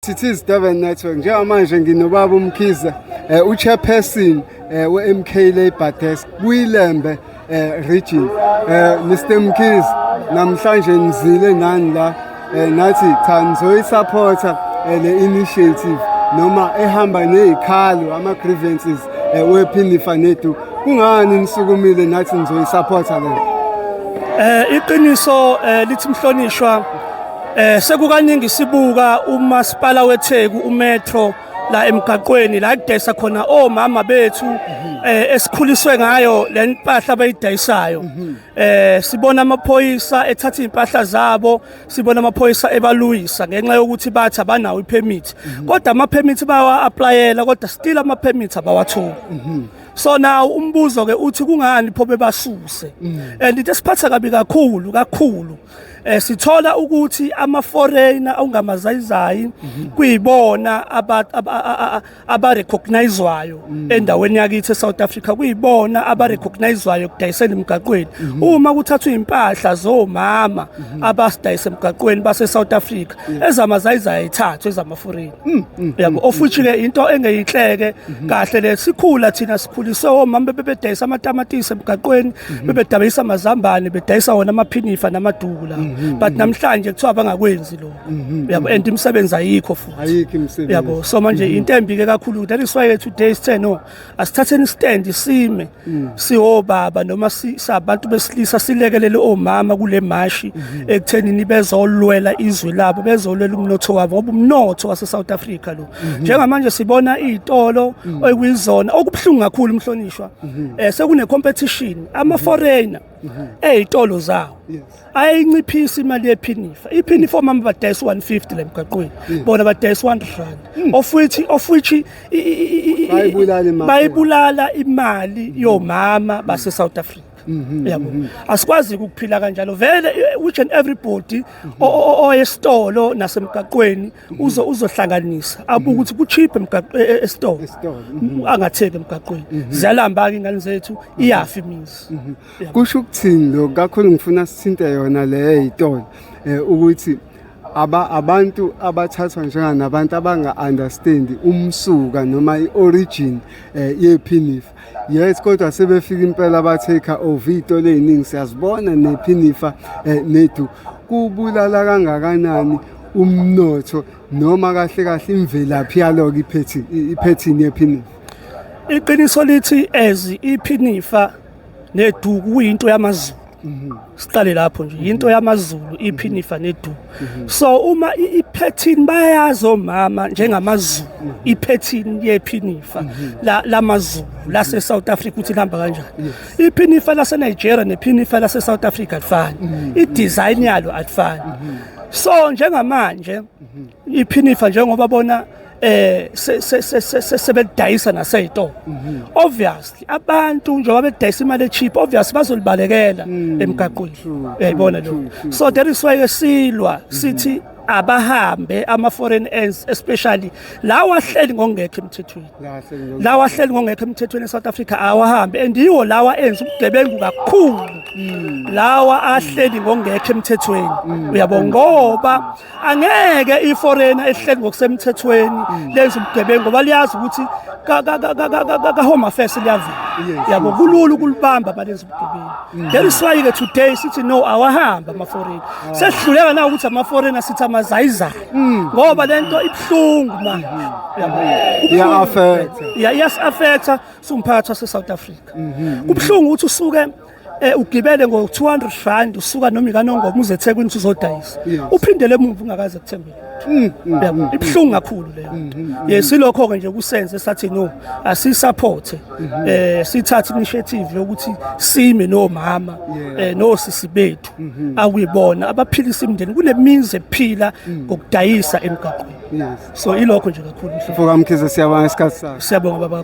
Thithiz Durban Network njengamanje nginobaba uMkhize eh, uchairperson eh, we-MK Labour Desk kuyilembe eh, region eh, Mr Mkhize namhlanje nizile nani la eh, nathi cha nizoyisupporta eh, le initiative noma ehamba nezikhalo ama grievances eh, wephinifa nethu kungani nisukumile nathi nizoyisupporta le eh iqiniso eh, lithi mhlonishwa Eh sekukaningi sibuka umasipala weTheku uMetro la emgaqweni la kudayisa khona omama bethu eh esikhuliswe ngayo le mpahla abayidayisayo eh sibona amaphoyisa ethatha impahla zabo sibona amaphoyisa ebaluyisa ngenxa yokuthi bathi abanawo ipermit kodwa ama permit bawa applyela kodwa still ama permit abawatholi so now umbuzo ke uthi kungani pho bebasuse and into esiphatha kabi kakhulu kakhulu eh sithola ukuthi ama foreigner awungamazayizayi mhm. kuyibona aba aba recognizwayo mhm. endaweni yakithi eSouth Africa kuyibona aba mhm. recognizwayo kudayisela emgaqweni uma kuthathwa impahla zomama abasidayisa emgaqweni base South Africa ezamazayizayi ithathwe ezama foreigner Mm, mm, yabo mm, of which ke into engeyinhleke mm-hmm. kahle le sikhula thina sikhulise omama bebedayisa amatamatisi emgaqweni mm-hmm. bebedayisa amazambane bedayisa wona amaphinifa namaduku la mm-hmm, but namhlanje kuthiwa bangakwenzi lo yabo and imisebenzi ayikho futhi ayikho imisebenzi yabo so manje into embi ke kakhulu that is why today is 10 no asithatheni stand sime mm. siwobaba noma sabantu besilisa silekelele omama kule mashi mm-hmm. ekutheni nibezolwela izwe labo bezolwela umnotho wabo ngoba umnotho wase South Africa lo mm-hmm. njengamanje sibona izitolo mm. okuyizona okubuhlungu kakhulu umhlonishwa mm-hmm. eh sekune competition ama foreigner mhm. ey'tolo zawo ayinciphisa imali yephinifa iphinifa omama badayisa 150 le mgaqweni bona badayisa 100 rand hmm. of which of which bayibulala imali hmm. yomama base South Africa mhm, yabo mhm. asikwazi ukuphila kanjalo vele which and everybody oyesitolo nasemgaqweni uzo uzohlanganisa abuke ukuthi kucheap emgaqo e- e- esitolo Mhm. angatheki emgaqweni ziyalamba ke ingane zethu iyafi imizi Yabo. kusho ukuthini lo kakhulu ngifuna sithinte yona le yitolo eh, ukuthi aba abantu abathathwa njenganabantu abanga-understandi umsuka noma i-origin eh, yephinifa Yes kodwa sebefika impela ba take over itole eziningi siyazibona nephinifa eh, nethu kubulala kangakanani umnotho noma kahle kahle imvelaphi yaloku iphethi iphethini yephinifa iqiniso lithi as iphinifa neduku kuyinto yamazulu siqale lapho nje into yamazulu iphinifa nedu so uma iphethini bayazi omama njengamazulu iphethini yephinifa lamazulu lase South Africa uthi lihamba kanjani iphinifa lase Nigeria nephinifa lase South Africa alifani idesign yalo alifani so njengamanje iphinifa njengoba bona eh sebelidayisa naseyitolo mhm. obviously abantu njengoba bedayisa imali echeap obviously bazolibalekela mm. emgaqweni yayibona eh, lo so that is why esilwa mhm. sithi abahambe ama foreign ends especially lawa ahleli ngongekho emthethweni lawa ahleli ngongekho emthethweni eSouth Africa awahambe and yiwo lawa enza ubugebengu kakhulu mm. lawa ahleli ngongekho emthethweni mm. uyabo ngoba angeke iforena ehleli ngokusemthethweni mm. lenza ubugebengu ngoba liyazi ukuthi ka-home affairs liyavela yabo kulula ukulibamba balenza ubugebengu mm. then siwayi-ke today sithi no awahamba amaforena ah. sesidluleka na ukuthi amaforena sithi amazayizayo mm. ngoba le nto ibuhlungu manje mm-hmm. iya-affecta siwumphakathi wase-south africa mm-hmm. kubuhlungu ukuthi usuke eh ugibele ngo 200 rand usuka noma ikanongoma uze eThekwini uzodayisa uphindele emuva ungakaze kuthembile mm, mm, yabo mm, ibhlungu kakhulu leyo yes silokho ke nje kusenze sathi no asisupport mm-hmm. eh sithatha initiative yokuthi sime nomama eh nosisi bethu mm-hmm. akuyibona abaphilisa imndeni kunemizi ephila ngokudayisa emgaqweni so ilokho nje kakhulu mfowethu mkhize siyabonga isikhathi sakho siyabonga baba